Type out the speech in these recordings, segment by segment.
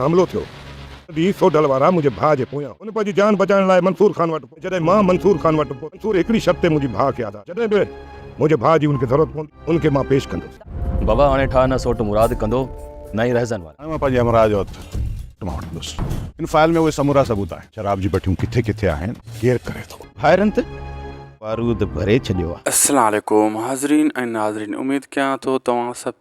حملو ٿيو تڏهن سوڍل وارا منهنجي ڀاء جي پويان هن پنهنجي جان بچائڻ لاء منصور خان وٽ پهتو جڏهن مان منصور خان وٽ پهتو منصور هڪڙي شرط تي منهنجي ڀاء کي آزاد جڏهن به منهنجي ڀاء جي هن کي ضرورت پوندي هن کي مان پيش ڪندس. بابا هاڻي ٺاهه نه سوٽ مراد ڪندو نه ئي رهزن وارا. هاڻي مان پنهنجي همراهه جو هٿ سوٽ مان وٺندس. هن فائل ۾ اهي سمورا ثبوت آهن. شراب جي بٺيون ڪٿي ڪٿي آهن ڪير ڪري ٿو. ڀائرن ته بارود ڀري ڇڏيو آ. السلام عليڪم حاضرين ۽ ناظرين اميد ڪيان ٿو توهان سڀ.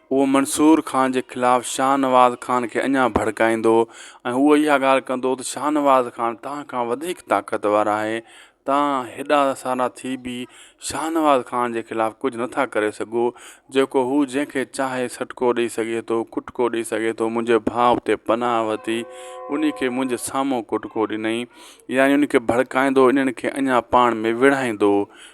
اهو منصور خان جي خلاف شاهنواز خان کي اڃا ڀڙڪائيندو ۽ هو اها ڳالهه ڪندو ته شاهنواز خان توهان کان وڌيڪ طاقتور آهي، توهان هيڏا سارا ٿي به شاهنواز خان جي خلاف ڪجهه نه ٿا ڪري سگهو، جيڪو هو جنهن کي چاهي سٽڪو ڏئي سگهي ٿو، ڪٽڪو ڏئي سگهي ٿو، منهنجي ڀاء اتي پناهه ورتي، انهي کي منهنجي سامهون ڪٽڪو ڏنئي، يعني ان کي ڀڙڪائيندو، انهن کي اڃا پاڻ ۾ وڙهائيندو،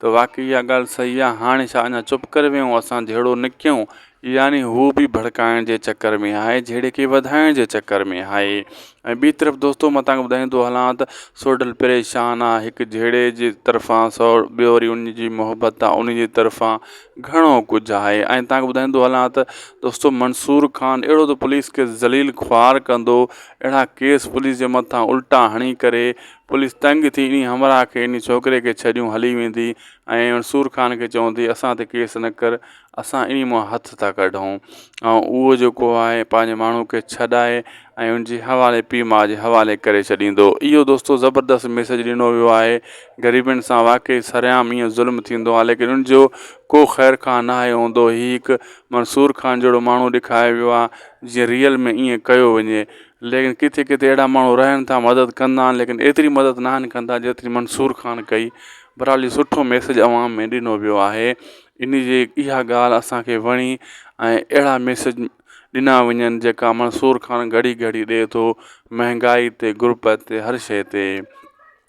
ته واقعي اها ڳالهه صحيح آهي هاڻي ڇا اڃا چپ ڪري ويهون اسان جهيڙو نه ڪيون يعني هو به ڀڙڪائڻ جي چڪر ۾ آهي جهيڙي کي وڌائڻ جي چڪر ۾ آهي ۽ ٻي طرف دوستو مان تانکي ٻڌائيندو هلان ته سوڍل پريشان آهي هڪ جهيڙي جي طرفان سو ٻيو وري ان جي محبت آهي ان جي طرفان گهڻو ڪجهه آهي ۽ تانکي ٻڌائيندو هلان ته دوستو منصور خان اهڙو ته پوليس کي ذليل خوار ڪندو اهڙا ڪيس پوليس جي مٿان الٽا هڻي ڪري پوليس تنگ ٿي انهي همراهه کي انهي ڇوڪري کي ڇڏيون هلي ويندي ۽ سور خان کي چوندي اسان تي ڪيس نه ڪر اسان انهي مان هٿ ٿا ڪڍون ۽ اهو جيڪو آهي پنهنجي ماڻهو کي ڇڏائي ۽ ان جي حوالي پيء ماء جي حوالي ڪري ڇڏيندو اهو دوستو زبردست ميسيج ڏنو ويو آهي غريبن سان واقعي سرعام ايئن ظلم ٿيندو آهي ليڪن ان جو ڪو خير خواهه ناهي هوندو هي هڪ منصور خان جهڙو ماڻهو ڏيکايو ويو آهي جي ريئل ۾ ايئن ڪيو وڃي ليڪن ڪٿي ڪٿي اهڙا ماڻهو رهن ٿا مدد ڪندا آهن ليڪن ايتري مدد ناهن ڪندا جيتري منصور خان ڪئي برحال هي سٺو ميسج عوام ۾ ڏنو ويو آهي ان جي اها ڳالهه اسانکي وڻي ۽ اهڙا ميسج ڏنا وڃن جيڪا منصور خان گهڙي گهڙي ڏي ٿو مهنگائي تي غربت تي هر شئي تي